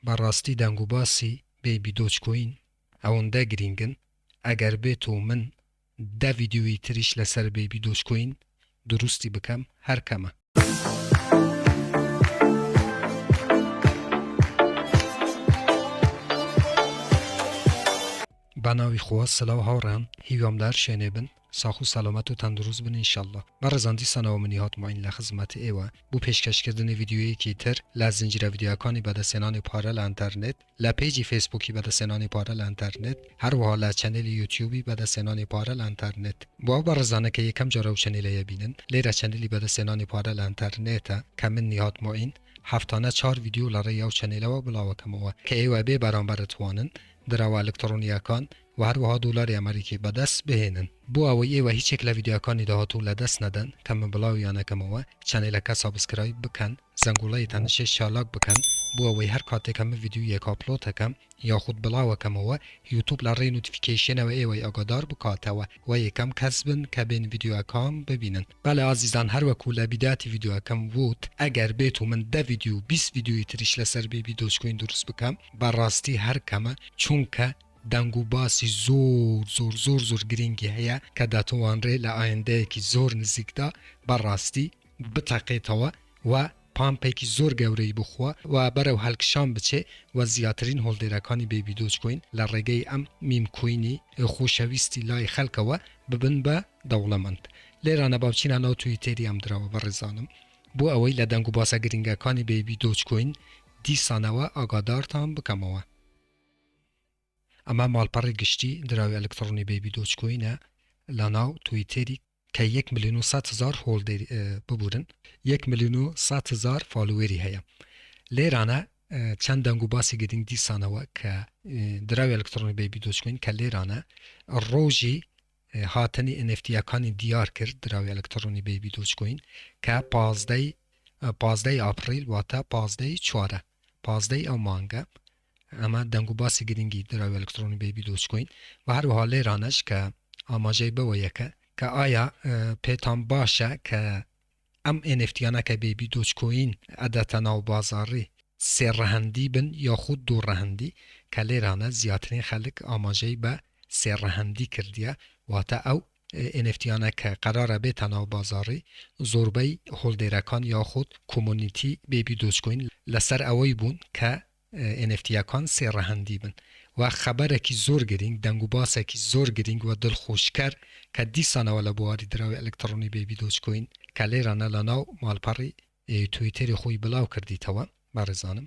بەڕاستی دەنگوباسی بەیبی دۆجکۆین ئەوەندە گرینگن ئەگەر بێتو من دە ڤیدیۆیی تریش لەسەر بەیبی دۆجکۆین دروستی بکەم هەر کەمە. بەناوی خوا سلاو هاوڕێیان هیوام لەهەر شوێنێ بن ساخو سەلامەت و تەندروست بن ان شاءاللە بەڕێزان دیسانەوە منی هات معین لە خزمەت ئێوە بو پێشکەش کردنی ڤیدیۆیەکی تر لە زنجیرە ڤیدیۆیەکانی بەدەستهێنانی پارە لە ئەنتەرنێت لە پەیجی فەیسبوکی بەدەستهێنانی پارە لە ئەنتەرنێت هەروەها لە چەنێلی یوتیوبی بەدەستهێنانی پارە لە ئەنتەرنێت بۆ ئەو بەڕێزانە کە یەکەم جارە ئەو چەنێلەیە بینن لێرە چەنێلی بەدەستهێنانی پارە لە ئەنتەرنێتە کە من نیهاد معین هەفتانە چار ڤیدیۆ لە ڕێی ئەو چەنێلەوە بڵاوەکەمەوە کە ئێوە بێ بەرامبەر ئەتوانن دراوە ئەلکتڕۆنیەکان و هەروەها دۆلاری ئەمەریکی بەدەست بهێنن بۆ ئەوەی ئێوە هیچ یەک لە ڤیدیۆکانی داهاتوو لەدەست نەدەن کەمە بڵاویان ئەکەمەوە چەنێلەکە سابسکرایب بکەن زەنگۆڵەی تەنگژەی چالاک بکەن بۆ ئەوەی هەر کاتێک کە من ڤیدیۆیەک ئاپلۆد ئەکەم یاخود بڵاو ئەکەمەوە یوتوب لە ڕێی نۆتیفیکەیشنەوە ئێوەی ئاگادار بکاتەوە و یەکەم کەس بن کە بێن ڤیدیۆکەم ببینن بەڵێ ئازیزان هەر وەکو لە بیداتی ڤیدیۆکەم ووت ئەگەر بێت و من دە ڤیدیۆ و بیست ڤیدیۆی تریش لەسەر بیبی دۆج کۆین دروست بکەم بەڕاستی هەر کەمە چونکە دەنگ و باسی زۆر زۆر زۆر زۆر گرینگی هەیە کە دەتوانرێ لە ئایندەیەکی زۆر نزیکدا بە ڕاستی بتەقێتەوە و پامپێکی زۆر گەورەی بۆ خوا و بەرەو هەلکشان بچێ و زیاترین هۆڵدێرەکانی بەیبی دۆج کۆین لە ڕێگەی ئەم میم کۆینی خۆشەویستی لای خەلکەوە ببن بە دەوڵەمەند لێرانە با بچینە ناو تویتێری ئەم دراوە بەڕێزانم بۆ ئەوەی لە دەنگ و باسە گرینگەکانی بەیبی دۆج کۆین دیسانەوە ئاگادارتان بکەمەوە. ئەمە ماڵپەڕی گشتی دراوی ئەلکتڕۆنی بەیبی دۆج کۆینە لەناو تویتێری کە یەک ملیون و سەد هەزار هۆڵدێری ببورن یەک ملیون و سەد هەزار فالوێری هەیە لێرانە چەند دەنگ و باسی گرنگ دیسانەوە کە دراوی ئەلکترۆنی بەیبی دۆچکوین کە لێرانە ڕۆژی هاتنی ئەنفتیەکانی دیار کرد دراوی ئەلکترۆنی بەیبی دۆچکوین کە پازدەی پازدەی ئاپریل واتە پازدەی چوارە پازدەی ئەو مانگە ئەمە دەنگوباسی گرنگی دراوی ئەلکترۆنی بەیبی دۆجکۆین و هەروەها لێرانەش کە ئاماژەی بەوەیە کە کە ئایا پێتان باشە کە ئەم ئێنفتیانە کە بەیبی دۆجکۆین ئەدەتە ناو بازاڕی سێ ڕەهەندی بن یاخود دوو ڕەهەندی کە لێرانە زیاترین خەلک ئاماژەی بە سێ ڕەهەندی کردیە واتە ئەو ئێنێفتییانە کە قەرارە بێتە ناو بازاڕی زۆربەی هۆڵدێرەکان یاخود کۆمۆنیتی بەیبی دۆجکۆین لەسەر ئەوەی بوون کە ئێنێفتییەکان سێ ڕەهەندی بن و خەبەرێکی زۆر گرینگ دەنگوباسێکی زۆر گرینگ و دڵخۆشکەر کە دیسانەوە لە بواری دراوی ئەلکتڕۆنی بەیبی دۆجکۆین کە لێرانە لە ناو ماڵپەڕی تویتێری خۆی بڵاو کردیتەوە بەڕێزانم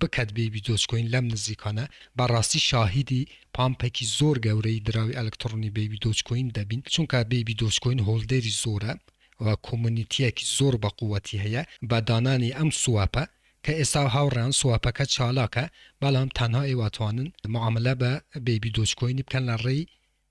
بکەت بەیبی دۆجکۆین لەم نزیکانە بەڕاستی شاهیدی پامپێکی زۆر گەورەی دراوی ئەلکتڕۆنی بەیبی دۆجکۆین دەبین چونکە بەیبی دۆجکۆین هۆڵدەری زۆرە و کۆمۆنیتیەکی زۆر بەقوەتی هەیە بە دانانی ئەم سواپە کە ئێستا هاوڕێیان سواپەکە چالاکە بەڵام تەنها ئێوە ئەتوانن معاملە بە بەیبی دۆجکۆینی بکەن لە ڕێی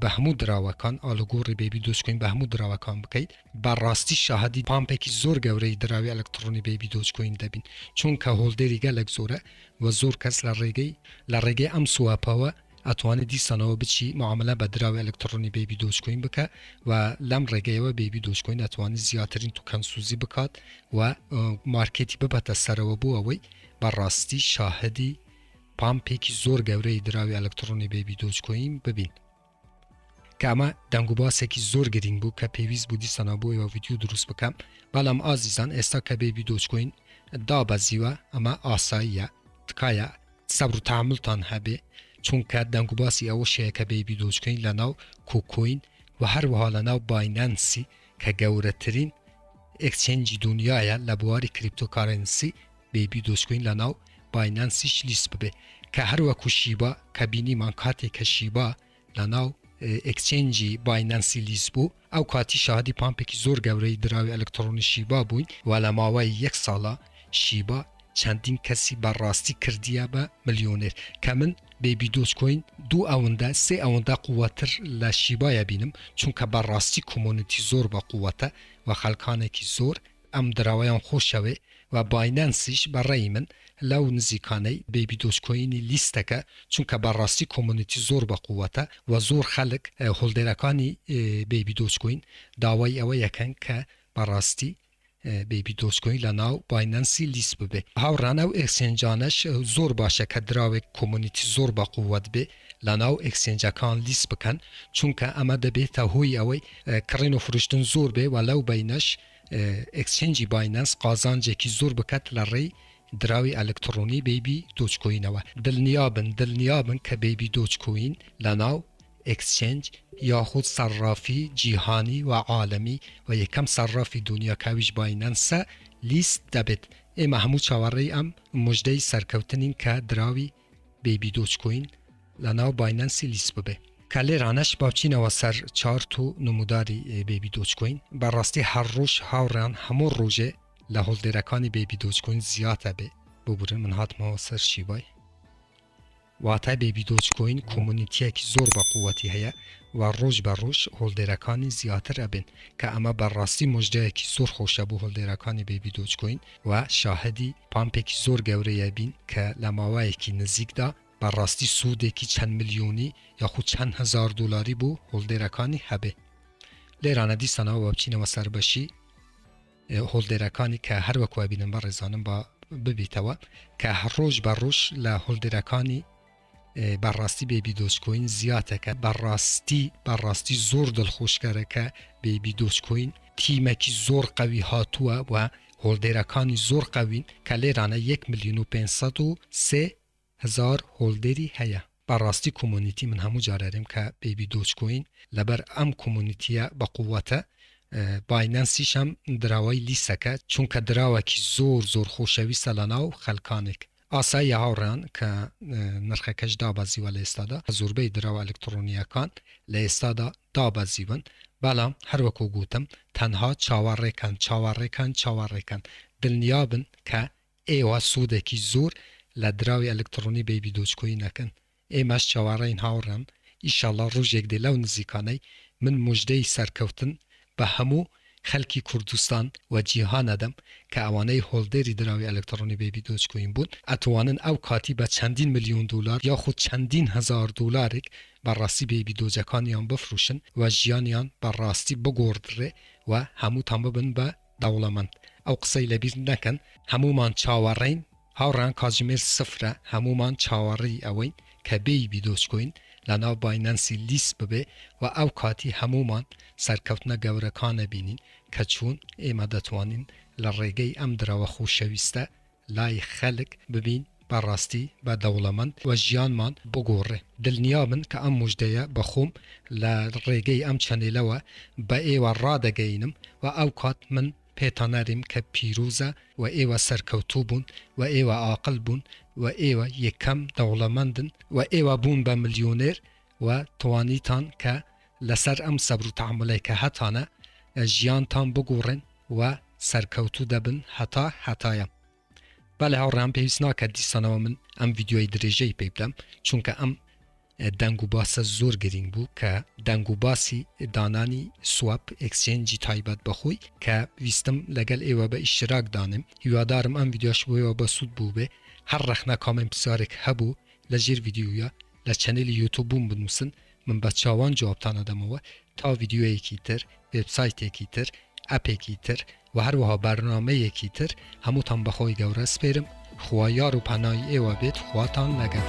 بە هەموو دراوەکان ئالوگۆڕی بەیبی دۆجکۆین بە هەموو دراوەکان بکەیت بە ڕاستی شاهدی پامپێکی زۆر گەورەی دراوی ئەلکتڕۆنی بەیبی دۆجکۆین دەبین چونکە هۆڵدێری گەلەک زۆرە وە زۆر کەس لە ڕێگەی لە ڕێگەی ئەم سوەپەوە ئەتوانی دیسانەوە بچی معاملە بە دراوی ئەلکتڕۆنی بەیبی دۆجکۆین بکە وە لەم ڕێگەیەوە بەیبی دۆجکۆین ئەتوانی زیاترین توکەن سوزی بکات وە مارکێتی ببەتە سەرەوە بۆ ئەوەی بە ڕاستی شاهدی پامپێکی زۆر گەورەی دراوی ئەلکتڕۆنی بەیبی دۆج کۆین ببین کە ئەمە دەنگ و باسێکی زۆر گرنگ بوو کە پێویست بوو دیسانە بۆ ئێوە ویددیو دروست بکەم بەڵام ئازیزان ئێستا کە بێبی دۆچکۆین دابەزیوە ئەمە ئاساییە تکایە سەبر و تاملتان هەبێ چونکە دەنگ و باسی ئەوە شەیە کە بێبی دۆچکۆین لە ناو کۆکۆین و هەروەها لە ناو باینەنسی کە گەورەترین ئەکچێنجی دنیاە لە بواری کریپتۆکارەنسی بەیبی دۆجکۆین لەناو باینانسیش لیست ببێ کە هەروەکو شیبا کە بینیمان کاتێک کە شیبا لەناو ئەکچێنجی باینەنسی لیز بوو ئەو کاتی شادی پامپێکی زۆر گەورەی دراوی ئەلکترۆنی شیبا بووین و لە ماوەی یەک ساڵە شیبا چەندین کەسی بەڕاستی کردیە بە ملیۆنێر کە من بێبی دۆچکۆین دوو ئەوەندە سێ ئەوەندە قووەتر لە شیبایە بینم چونکە بەڕاستی کۆمۆنیتی زۆر بە قووەتە و خەلکانێکی زۆر ئەم دراوەیان خۆشەوێ و باینەنسیش بە ڕەئی من لەو نزیکانەی بەیبی دۆج کۆینی لیستەکە چونکە بە ڕاستی کۆمونیتی زۆر بە قوەتە و زۆر خەلک هۆلدێرەکانی بەیبی دۆج کۆین داوای ئەوەی ئەکەن کە بە ڕاستی بەیبی دۆج کۆین لە ناو باینەنسی لیست ببێ هاوڕان ئەو ئێکسێنجانەش زۆر باشە کە دراوێک کۆمونیتی زۆر بە قوەت بێ لە ناو ئێکسێنجەکان لیست بکەن چونکە ئەمە دەبێتە هۆی ئەوەی کڕین و فروشتن زۆر بێ و لەو بەینەش ئێکسچێنجی باینەنس قازانجێکی زۆر بکات لە ڕێی دراوی ئەلکتڕۆنی بەیبی دۆجکۆینەوە دڵنیابن دڵنیابن کە بەیبی دۆجکۆین لەناو ئێکسچێنج یاخود سەڕافی جیهانی و عالەمی و یەکەم سەڕافی دونیا کە ئەویش باینەنسە لیست دەبێت ئێمە هەموو چاوەڕێی ئەم موژدەی سەرکەوتنین کە دراوی بەیبی دۆج کۆین لە ناو باینەنسی لیست ببێ. کە لێرانەش با بچینەوە سەر چارت و نموداری بەیبی دۆج کۆین بە ڕاستی هەر ڕۆژ هاوڕێیان هەموو ڕۆژێ لە هۆڵدێرەکانی بەیبی دۆج کۆین زیاد ئەبێ ببورن من هاتمەوە سەر شیبای واتە بەیبی دۆج کۆین کۆمۆنیتیەکی زۆر بە قووەتی هەیە و ڕۆژ بە ڕۆژ هۆڵدێرەکانی زیاتر ئەبێن کە ئەمە بە ڕاستی مژدەیەکی زۆر خۆشە بۆ هۆڵدێرەکانی بەیبی دۆج کۆین و شاهدی پامپێکی زۆر گەورەی ئەبین کە لە ماوەیەکی نزیکدا بەڕاستی سوودێکی چەند ملیۆنی یاخود چەند هەزار دۆلاری بۆ هۆڵدێرەکانی هەبێ لێرانە دیسانەوە بە بچینەوە سەر بەشی هۆڵدێرەکانی کە هەر وەکو ئەبینم بە ڕێزانم بە ببیتەوە کە هەر ڕۆژ بە ڕۆژ لە هۆڵدێرەکانی بە ڕاستی بەیبی دۆج کۆین زیاتە کە بە ڕاستی بە ڕاستی زۆر دڵخۆشکەرە کە بەیبی دۆج کۆین تیمەکی زۆر قوی هاتووە و هۆلدێرەکانی زۆر قوین کە لێرانە 1 ملیون و 500 و سێ هەزار هۆلدێری هەیە بە ڕاستی کۆمۆنیتی من هەموو جارارێم کە بەیبی دۆج کۆین لەبەر ئەم کۆمۆنیتیە بە قووەتە باینەنسیشم دراوای لیسەکە چونکە دراوەکی زۆر زۆر خۆشەویستە لە ناو خەلکانێک ئاساییە هاوڕێیان کە نرخەکەش دابەزیوە لە ئێستادا زوربەی دراوە ئەلکتڕۆنییەکان لە ئێستادا دابەزیون بەڵام هەروەکو گوتم تەنها چاوەڕێکەن چاوەڕێکەن چاوەڕێکەن دلنیابن کە ئێوە سودێکی زور لە دراوی ئەلکتڕۆنی بەیبی دۆج کۆین ئەکەن ئێمەش چاوەڕێین هاوڕێم ئیشاڵا ڕوژێک دێ لەو نزیکانەی من موژدەی سەرکەوتن بە هەموو خەلکی کوردستان و جیهان ئەدەم کە ئەوانەی هۆلدەری دراوی ئەلکتڕۆنی بەیبی دۆج کوین بوون ئەتوانن ئەو کاتی بە چەندین ملیۆن دۆلار یاخود چەندین هەزار دۆلارێک بە ڕاستی بەیبی دۆجەکانیان بفروشن و ژیانیان بە ڕاستی بگۆڕدرێ و هەمووتان ببن بە دەوڵەمەند ئەو قسەی لەبیر نەکەن. هەموومان چاوەڕێین هاوڕێیان کاتژمێر سفرە هەموومان چاوەڕێی ئەوەین کە بێیبی دۆجکۆین لەناو باینەنسی لیست ببێ و ئەو کاتی هەموومان سەرکەوتنە گەورەکانە بینین کە چوون ئێمە دەتوانین لە ڕێگەی ئەم درەوە خوشەویستە لای خەلک ببین بە ڕاستی بە دەوڵەمەند و ژیانمان بگۆڕێ دلنیابن کە ئەم موژدەیە بە خۆم لە ڕێگەی ئەم چەنێلەوە بە ئێوە ڕادەگەینم و ئەو کات من پێتانەریم کە پیرۆزە و ئێوە سەرکەوتوو بوون و ئێوە ئاقل بوون و ئێوە یەکەم دەوڵەمەندن و ئێوە بوون بە ملیۆنێر و توانیتان کە لەسەر ئەم سەبر و تەحەمولەی کە هەتانە ژیانتان بگوڕێن و سەرکەوتوو دەبن هەتا هەتایە بەڵێ هاوڕێیان پێویست ناکات دیسانەوە من ئەم ڤیددیۆی درێژەی پێ بدەم چونکە ئەم دەنگ و باسە زۆر گرنگ بوو کە دەنگ و باسی دانانی سواب ئەکسچێنجی تایبەت بەخۆی کە ویستم لەگەل ئێوە بە ئیشتراک دانم هیوادارم ئەم ویددیۆش بۆیەوە بە سوود بوو بێ هەر ڕەخنە کامنت پسارێک هەبوو لە ژێر ویددیوە لە چەنێلی یوتوبم بنوسن من بە چاوان جوابتان ئەدەمەوە تا ڤیدیۆیەکی تر وێب سایتێکی تر ئەپێکی تر وە هەروەها بەرنامەیەکی تر هەمووتان بە خۆی گەورە سپێرم خوا یار و پەنای ئێوە بێت خواتان لەگەل.